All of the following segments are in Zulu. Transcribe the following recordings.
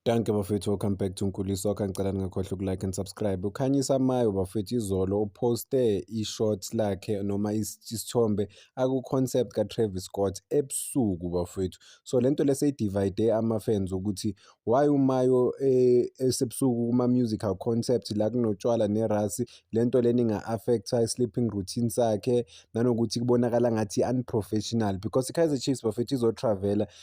Danke bafethu, welcome back to Nkuli Soccer. Ngicela ningakhohlwa ukulike and subscribe. Ukhanyisa Mayo bafethu izolo uposte i-shot lakhe noma isithombe aku-concept ka-Travis Scott ebusuku bafethu. So lento leseyidivide ama-fans ukuthi why uMayo eh, esebusuku kuma-musical concept la kunotshwala nerasi, lento lena inga-affecta i-sleeping routine sakhe nanokuthi kubonakala ngathi unprofessional because i-Kaizer Chiefs bafethu izotravela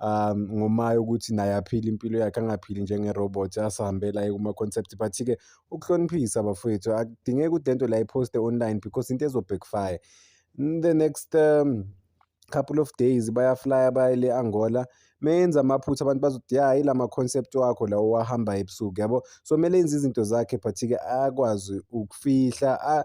um ngomaye ukuthi naye aphile impilo yakhe angaphili njenge-robot asihambela aye kuma-concept but-ke ukuhloniphisa bafowethu akudingeki ukuthi le nto la iphoste online because into ezo-backfire the next um, couple of days bayaflya baye le angola menza amaphutha abantu bazothi ya yila ma-concept wakho lawo owahamba ebusuku yabo so kumele enze izinto zakhe but-ke akwazi ukufihla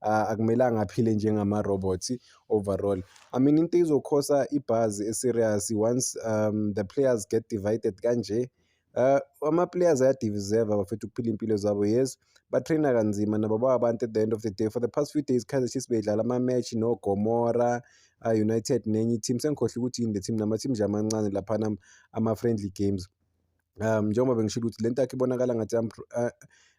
akumelanga aphile njengama-robots overall. I mean into izokhosa ibhazi e-serious once um the players get divided kanje uh, ama-players ayadiviseva bafethu ukuphila iy'mpilo zabo yes batraina kanzima nabo bawabantu at the end of the day for the past few days kaizer chiefs beyidlala ama-match nogomora united nenye i-team sengikhohle ukuthi yini le team nama-team nje amancane laphana ama-friendly games um njengoba bengishilo ukuthi le ntakho ibonakala ngathi eh,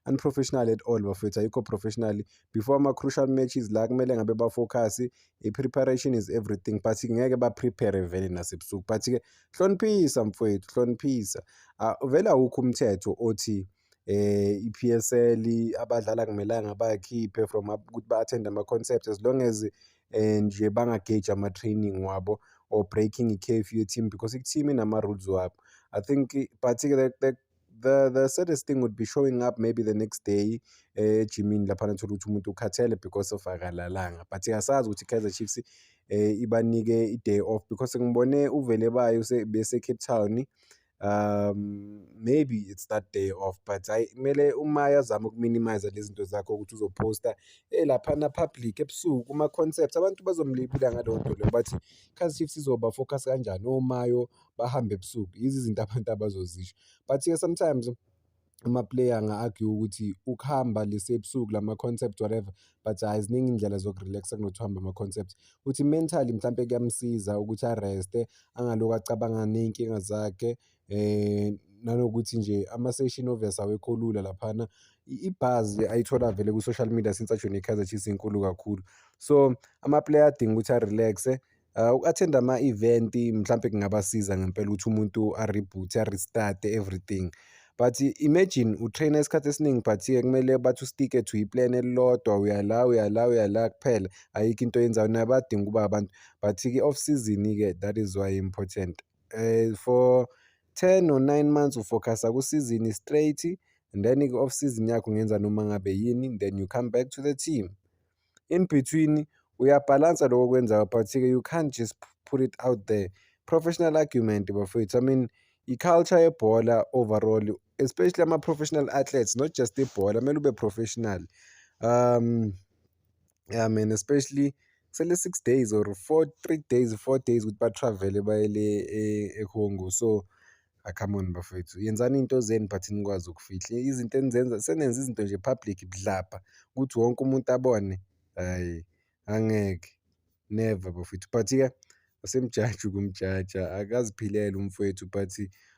unprofessional at all bafethu ayikho professional before ama-crucial matches la kumele ngabe bafocus i-preparation is everything but ngeke baprepare vele nasebusuku but-ke hloniphisa mfowethu hloniphisa ah, vele awukho umthetho othi i-P_S_L abadlali akumelanga bakhiphe from ukuthi ba-attend-e ama-concerts as long as nje bangageji ama-training wabo or breaking i-curfew ye-team because i-team inama-rules wabo. I think but-ke the the the the saddest thing would be showing up maybe the next day ejimini laphana uthole ukuthi umuntu ukhathele because of akalalanga but asazi ukuthi i-Kaizer Chiefs ibanike i-day off because ngibone uVelebayi bese-Cape Town. um maybe it's that day off but hayi kumele uma yazama ukuminimize lezi zinto zakho ukuthi uzophosta eh laphana public ebusuku kuma-concept abantu bazomlibula ngaleyo nto leyo bathi khazi chiefs izoba focus kanjani omayo bahambe ebusuku yizi izinto abantu abazozisho but-ke sometimes ama-player anga-argue ukuthi ukuhamba lesi ebusuku la ma-concept whatever but hhayi ziningi iy'ndlela zoku-relax-a kunokuthi uhambe ama-concept ukuthi mentally mhlawumpe kuyamsiza ukuthi areste angalokhu acabanga ney'nkinga zakhe um nanokuthi nje ama-session obvious awekho lula laphana ibhazi ayithola vele ku-social media since ajone i-kaizer chiefs inkulu kakhulu so ama-player adinga ukuthi a-relax-e Ah, uku-attend-a ama-event mhlampe kungabasiza ngempela ukuthi umuntu a-reboot-e, a-restart-e everything. But imagine u-train-a isikhathi esiningi but-ke kumele bathi u-stick-e to i-plan elilodwa, uya la, uya la, uya la kuphela. Ayikho into oyenzayo, nabo bayadinga ukuba abantu but-ke off season-ke that is why important. Eh, for ten or nine months u-focus-a ku-season straight then-ke off season yakho ungenza noma ngabe yini then you come back to the team. in between uyabhalansa loko okwenzayo but-ke you can't just put it out there professional argument bafowethu i mean i-culture yebhola overall especially ama-professional athletes not just ibhola kumele ube professional um yeah man especially kusele six days or four three days four days ukuthi batravele bayele e-congo so Ah, come on bafowethu yenzani into zenu but nikwazi ukufihla izinto enizenza senenza izinto nje public budlabha ukuthi wonke umuntu abone hhayi angeke never bafowethu but-ke asemjaji ukumjaja akaziphilele umfowethu but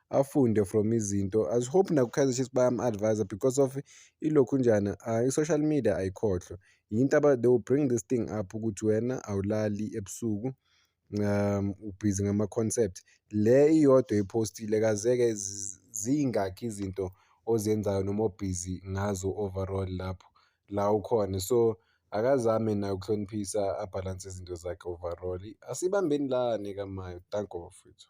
afunde from izinto as hope nakukaizer chiefs bayam-advisa because of ilokhu njani ah, i-social media ayikhohlwa yinto they will bring this thing up ukuthi wena awulali ebusuku um ubhizi ngama-concept le iyodwa iphostile kazeke zingakhi izinto ozenzayo noma obhizi ngazo overall lapho la ukhona so akazame naye ukuhloniphisa abhalanse izinto zakhe overall asibambeni lani kamayo thank you bafethu